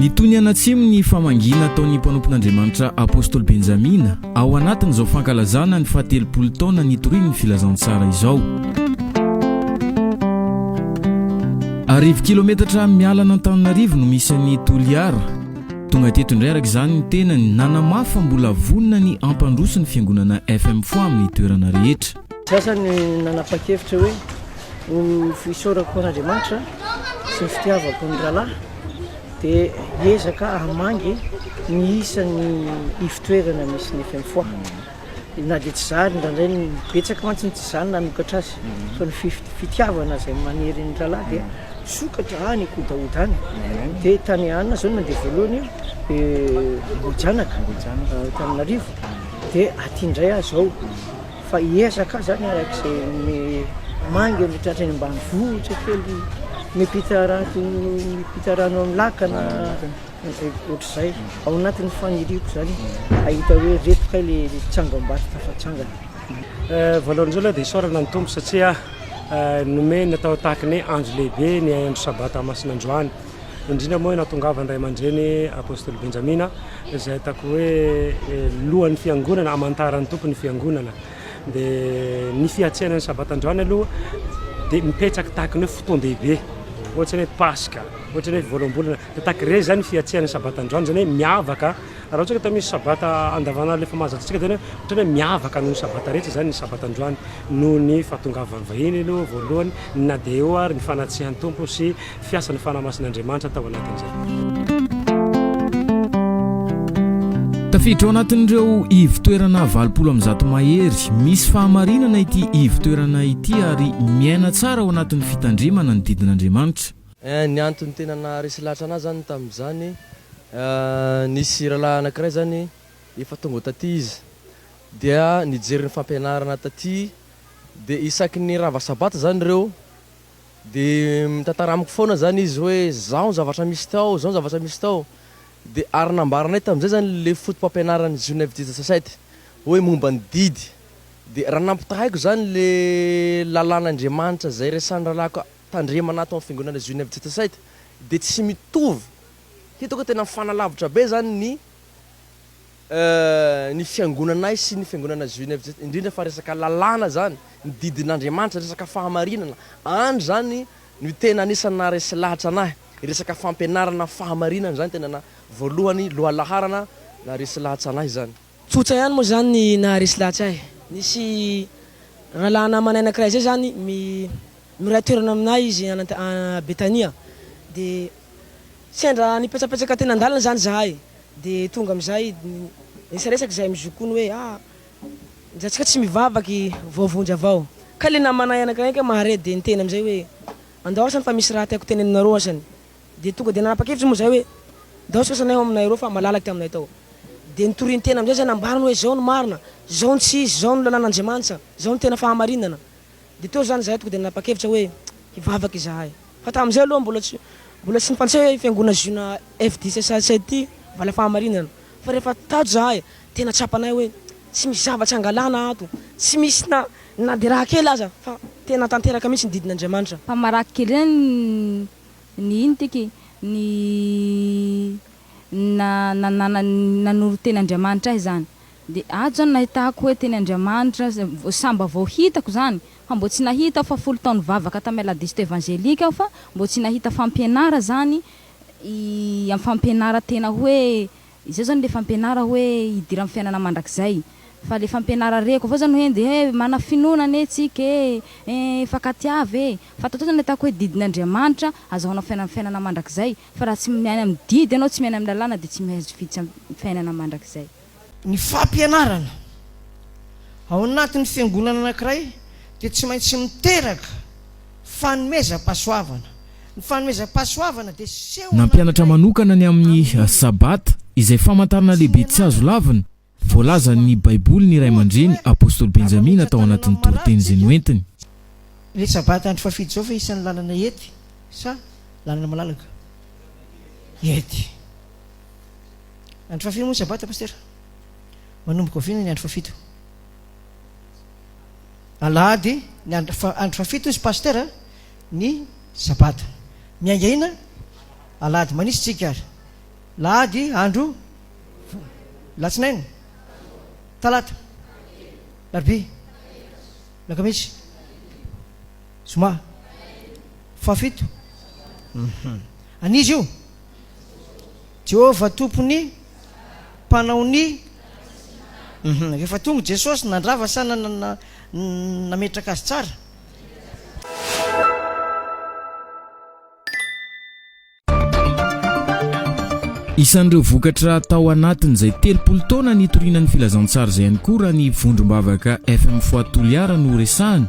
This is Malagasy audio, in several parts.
Nitony anatsimo ny famangiana ataon'ny mpanompon'Andriamanitra Apostoly Benjamina ao anatin'izao fankalazana ny fahatelopolo taona nitorian'ny Filazantsara izao. Arivo kilometatra miala an'Antananarivo no misy an'i Toliara. Tonga teto indray araka izany ny tenany nanamafy fa mbola vonona ny hampandroso ny fiangonana FM Foix amin'ny toerana rehetra. Za izany nanapa-kevitra hoe ho fisaorako an'Andriamanitra sy ny fitiavako ny rahalahy dia hiezaka hamangy ny isan'ny ifotoerana misy ny FM Foix. Na dia tsy zary indraindray ny betsaka mantsy ny tsy zany nanokatra azy fa ny fif- fitiavana izay manery ny rahalahy dia misokatra any kodaoda any. Dia tany Anna izao no nandeha voalohany io, eh, Ambohijanaka, eh, Antananarivo. Dia aty indray aho izao Fa hiezaka zany araka izay ny manga ny tratran'ny ambanivohitra kely mipita rato mipita rano amin'ny lakana ohatr'izay ao anatin'ny faniriako zany ahita hoe reto kay le tsangambato tafatsangana eh, voalohany izao aloha dia isaorana ny tompo satria eh, nomeny atao tahaka ny andro lehibe ny andro sabata masina androany indrindra moa nahatongavan'ny ray aman-dreny Apostoly Benjamina izay ataoko hoe eh, lohan'ny fiangonana hamantaran'ny tompo ny fiangonana dia ny fiatsehana ny sabata androany aloha dia mipetraka tahaka ny hoe fotoan-dehibe ohatra ny hoe paska ohatra ny hoe voaloham-bolana dia tahaka ireny izany fiatsehana ny sabata androany izany hoe miavaka raha ohatra ka misy sabata andavanandro efa mahazatra antsika izany ohatra hoe miavaka noho ny sabata rehetra izany ny sabata androany noho ny fahatongavan'ny vahiny aloha voalohany na dia eo ary ny fanatsihan-tompo sy fiasan'ny Fanahy Masin'Andriamanitra tao anatin'izay. Tafiditra ao anatin'ireo ivo-toerana valopolo amby zato mahery. Misy fahamarinana ity ivo-toerana ity ary miaina tsara ao anatin'ny fitandremana ny didin'Andriamanitra. Eh, ny antony tena naharesy lahatra anahy zany tamin'izany, nisy rahalahy anankiray zany efa tonga taty izy dia nijery ny fampianarana taty, dia isaky ny rava sabata zany ireo Dia mitantara amiko foana izany izy hoe izao ny zavatra misy tao, izao ny zavatra misy tao. Dia ary nambaranay tamin'izay izany ilay fotopampianaran'i Zhunev Dizasasety hoe momba ny didy. Dia raha nampitahaiko izany ilay lalàn'Andriamanitra izay resahin'ny rahalahiko tandremana ato amin'ny fiangonana Zhunev Dizasasety dia tsy mitovy. Hitako hoe tena mifanalavitra be izany ny. ny fiangonanay sy ny fiangonana Zhuinevjt, indrindra fa resaka lalàna zany, ny didin'Andriamanitra, resaka fahamarinana, any zany no tena anisan'ny naharesy lahatra anahy, ny resaka fampianarana fahamarinana zany tena voalohany, lohalaharana naharesy lahatra anahy zany. Tsotra ihany moa zany ny naharesy lahatra ahy, nisy rahalahy namanay anakiray zay zany miray toerana aminay izy any Betania, dia Sendra nipetsapetsaka teny an-dalana izany izahay dia tonga amin'izay niresaresaka izahay mizokoana hoe ah, njatsika tsy mivavaka i Voavonjy avao. Ka ilay namanay anankiray mahare dia niteny amin'izay hoe andao asany fa misy raha tiako tenenina aminareo asany. Dia tonga dia nanapa-kevitra moa izahay hoe ndao asika asanay ao aminay ireo fa malalaka ity aminay tao. Dia nitorintena amin'izay izahay nambarany hoe izao no marina, izao no tsy izy, izao no lalàn'Andriamanitra, izao no tena fahamarinana. Dia teo izany izahay tonga dia nanapa-kevitra hoe hivavaka izahay. Fa tamin'izay aloha mbola tsy mbola tsy nifantsay hoe Fiangonana Ziona FDCSAC ity va ilay fahamarinana. Fa rehefa tato izahay, tena tsapanay hoe tsy misy zavatra angalana ato, tsy misy na na dia raha kely aza fa tena tanteraka mihitsy ny didin'Andriamanitra. Fa marary kely ahy ny iny tiky ny na na na nanoro-ten'Andriamanitra ahy izany. Dia ato izany nahitako hoe teny Andriamanitra, samba vao hitako izany, fa mbo tsy nahita aho fa folo taona nivavaka tamin'ny Aladisto Evangelique aho fa mbo tsy nahita fampianara izany i amin'ny fampianara tena hoe izao izany ilay fampianara hoe hidira amin'ny fiainana mandrakizay fa ilay fampianara reko avao izany hoe ndeha eh manana finoana anie tsika eh eh hifankatiava eh fa tato izany nahitako hoe didin' Andriamanitra azahoana fiainana fiainana mandrakizay fa raha tsy miaina amin'ny didy ianao tsy miaina amin'ny lalàna dia tsy mihaizo fiainana mandrakizay. Ny fampianarana ao anatin'ny fiangonana anankiray dia tsy maintsy miteraka fanomezam-pahasoavana. Ny fanomezam-pahasoavana dia seho anankiray. Nampianatra manokana ny amin'ny Sabata, izay famantarana lehibe tsy azo lavina, voalazan'ny Baiboly ny ray aman-dreny apostoly Benjamina tao anatin'ny toriteny izay noentiny. Ilay Sabata andro fahafidy izao ve isan'ny lalana ety sa lalana malalaka ety? Andro fahafiry moa ny sabata pasteur? Manomboka oviana ny andro fahafito? Alahady ny andro fahafito izy pasteur ny sabata. Miainga ina? Alahady manisy tsika ary. Lahady andro latsinainy. Talata. Larbi. Lakamisy. Zoma. Fahafito. Mhm. An'izy io Jehovah Tompo ny mpanao ny uhum rehefa tonga Jesosy nandrava sa nametraka azy tsara? Isan'ireo vokatra tao anatin'izay telopolo taona nitoriana ny filazantsara izay ihany koa raha ny vondrom-bavaka FM Foi Toliara no resahana.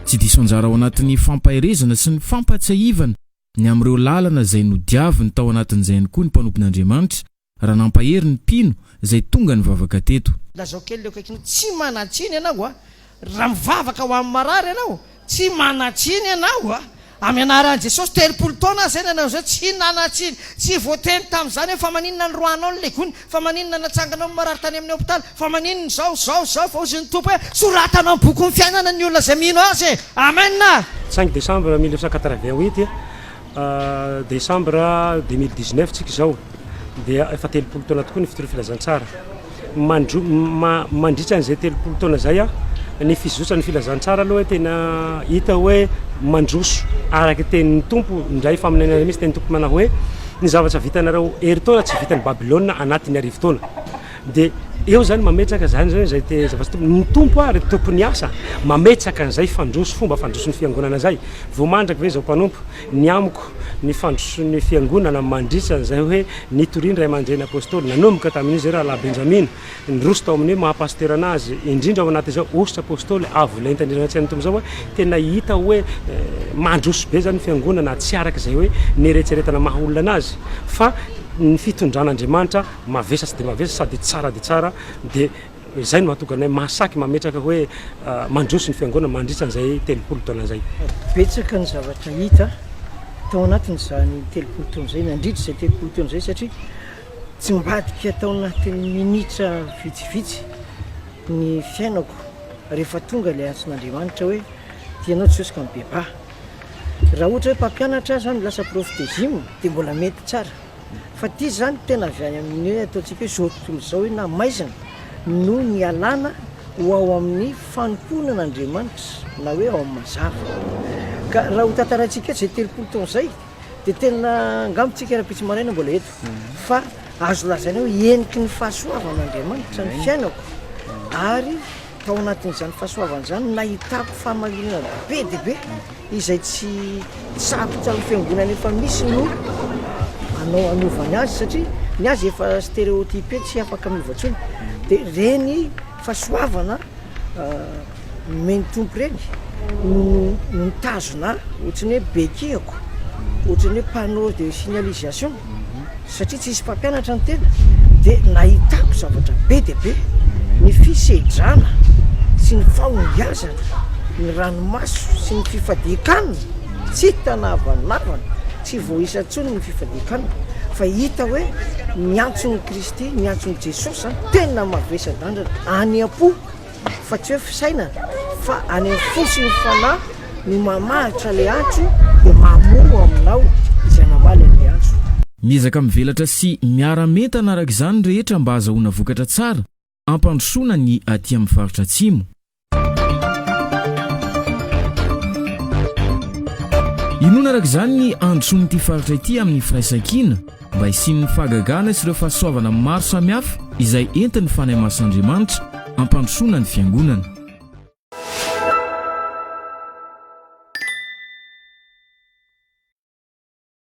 Tsy diso anjara ao anatin'ny fampaherezana sy ny fampahatsiahivana ny amin'ireo lalana izay nodiaviny tao anatin'izay ihany koa ny mpanompon'Andriamanitra raha nampahery ny mpino izay tonga nivavaka teto. Lazao kely eo akaikiny, Tsy manan-tsiny ianao raha mivavaka ho amin'ny marary ianao. Tsy manan-tsiny ianao amin'ny anaran'i Jesosy. Telopolo taona aza izay no nanao izay. Tsy nanan-tsiny. Tsy voateny tamin'izany hoe fa maninona ny roanao no legony. Fa maninona natsangana ho marary tany amin'ny hopitaly? Fa maninona izao, izao, izao? Fa hozy ny Tompo hoe, Soratana ao amin'ny bokin'ny fiainana ny olona izay mino Azy e! Amena! Cinq décembre mille neuf cent quatre-vingt huit décembre deux mille dix neuf tsika izao dia efa telopolo taona tokoa ny fitorian'ny filazantsara. Mandro- ma- mandritra an'izay telopolo taona izay a, ny fizotsan'ny filazantsara aloha tena hita hoe mandroso araka ny tenin'ny Tompo, indray faminaniana iray misy tenin'ny Tompo manao hoe Ny zavatra vitanareo herintaona tsy vitan'i Babylona anatin'ny arivo taona. Dia eo izany mametraka izany izany izay te zavatra tompo. Ny tompo ary tompon'ny asa mametraka an'izay fandroso fomba fandroson'ny fiangonana izay. Vao mandraka ve izao mpanompo ny amiko ny fandroson'ny fiangonana mandritra an'izay hoe nitorian'ny ray aman-dreny apôstôly nanomboka tamin'izy ireo rahalahy Benjamina Niroso tao amin'ny hoe maha pasitera anazy indrindra ao anatin'izao hosotra apostoly avo lenta indrindra anaty sain'ny Tompo izao hoe tena hita hoe mandroso be izany ny fiangonana tsy araka izay hoe ny eretseretana maha olona anazy fa ny fitondran'Andriamanitra mavesatry dia mavesatra sady tsara dia tsara dia izay no mahatonga anay mahasaky mametraka hoe mandroso ny fiangonana mandritra an'izay telopolo taona izay. Betsaka ny zavatra hita tao anatin'izany telopolo taona izay nandritra izay telopolo taona izay satria Tsy mivadika tao anatin'ny minitra vitsivitsy ny fiainako rehefa tonga ilay antson'Andriamanitra hoe tia anao Jesosy ka mibebaha. Raha ohatra hoe mpampianatra aza aho no lasa prof de gym dia mbola mety tsara. Fa ity izany tena avy any amin'ny hoe ataontsika hoe izao tontolo izao hoe na maizina no nialana ho ao amin'ny fanompoana an'Andriamanitra na hoe ao amin'ny mazava. Ka raha hotantaraintsika eto izay telopolo taona izay Dia tena angamba tsika rahampitso maraina mbola eto fa azo lazaina hoe heniky ny fahasoavan'Andriamanitra ny fiainako ary tao anatin'izany fahasoavana izany no nahitako fahamarinana be dia be izay tsy sarotra amin'ny fiangonana efa misy no anao anovany azy satria ny azy efa stéréotypé tsy afaka miova intsony dia reny fahasoavana nomeny Tompo ireny no no nitazona ahy ohatrany hoe bekihako ohatrany hoe panneau de signalisation satria tsisy mpampianatra ny tena de nahitako zavatra be dia be ny fisedrana sy ny fahombiazana ny ranomaso sy ny fifadian-kanina tsy hita na havanavana tsy voaisa intsony ny fifadian-kanina fa hita hoe miantso ny Kristy, ny antson'i Jesosy zany tena mavesa-danja any am-po fa tsy hoe fisainana fa any amin'ny fo sy ny fanahy no mamaritra le antso dia mamoa aminao izay namaly an'le antso. Miezaka mivelatra sy miara-mentana araka izany ny rehetra mba hazahoana vokatra tsara hampandrosoana ny aty amin'ny faritra Atsimo. Inoana araka izany ny handrosoan'ity faritra ity amin'ny firaisankina mba hisian'ny fahagagana sy ireo fahasoavana maro samihafa izay entin'ny Fanahy Masin'Andriamanitra hampandrosoana ny Fiangonana.